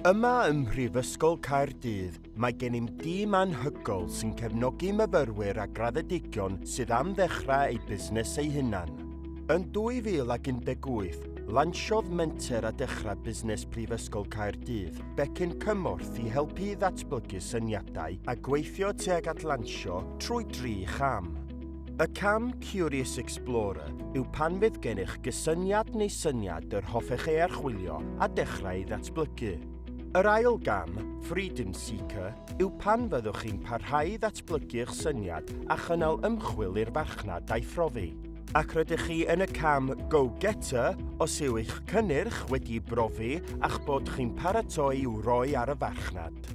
Yma ym Mhrifysgol Caerdydd mae gennym dîm anhygoel sy'n cefnogi myfyrwyr a graddedigion sydd am ddechrau eu busnes eu hunan. Yn 2018, lansiodd menter a dechrau busnes Prifysgol Caerdydd becyn cymorth i helpu i ddatblygu syniadau a gweithio tuag at lansio trwy dri cham. Y cam Curious Explorer yw pan fydd gennych gysyniad neu syniad yr hoffech ei archwilio a dechrau ei ddatblygu. Yr ail gam, Freedom Seeker, yw pan fyddwch chi'n parhau i ddatblygu eich syniad a chynnal ymchwil i'r farchnad a'i phrofi. Ac rydych chi yn y cam Go-Getter os yw eich cynnyrch wedi'i brofi a'ch bod chi'n paratoi i'w roi ar y farchnad.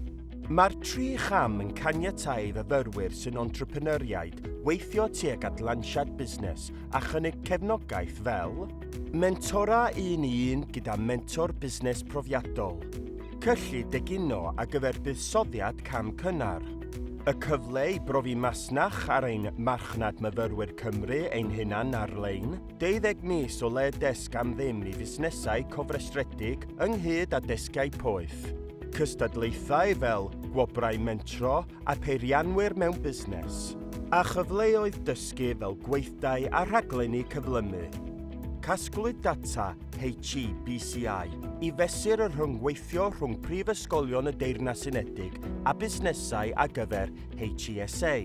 Mae'r tri cham yn caniatáu i fyfyrwyr sy'n entrepreneuriaid weithio tuag at lansiad busnes a chynnig cefnogaeth fel Mentora un i un gyda mentor busnes profiadol, cyllid egino ar gyfer buddsoddiad cam cynnar, y cyfle i brofi masnach ar ein Marchnad Myfyrwyr Cymru ein hunain ar-lein, 20 mis o le desg am ddim i fusnesau cofrestredig ynghyd â desgiau poeth. Cystadlaethau fel gwobrau mentro a pheirianwyr mewn busnes. A chyfleoedd dysgu fel gweithdai a rhaglenni cyflymu. Casglwyd data HEBCI i fesur y rhyngweithio rhwng prifysgolion y Deyrnas Unedig a busnesau a gyfer HESA.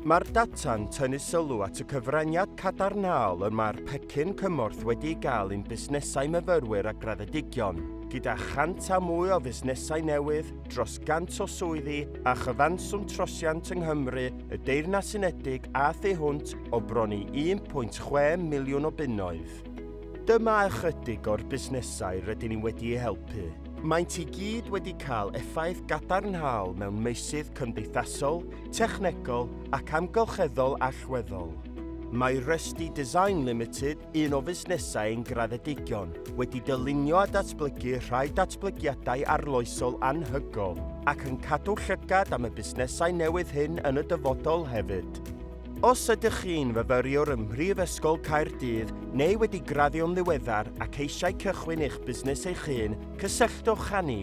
Mae'r data'n tynnu sylw at y cyfraniad cadarnhaol y mae'r pecyn cymorth wedi ei gael i'n busnesau myfyrwyr a graddedigion, gyda chant a mwy o fusnesau newydd, dros gant o swyddi a chyfanswm trosiant yng Nghymru, y Deyrnas Unedig a thu hwnt o bron i 1.6 miliwn o bunnoedd. Dyma ychydig o'r busnesau rydyn ni wedi eu helpu. Maent i gyd wedi cael effaith gadarnhaol mewn meysydd cymdeithasol, technegol ac amgylcheddol allweddol. Mae Rusty Design Limited, un o fusnesau ein graddedigion, wedi dylunio a datblygu rhai datblygiadau arloesol anhygoel ac yn cadw llygad am y busnesau newydd hyn yn y dyfodol hefyd. Os ydych chi'n fyfyriwr ym Mhrifysgol Caerdydd neu wedi graddio'n ddiweddar ac eisiau cychwyn eich busnes eich hun, cysylltwch â ni.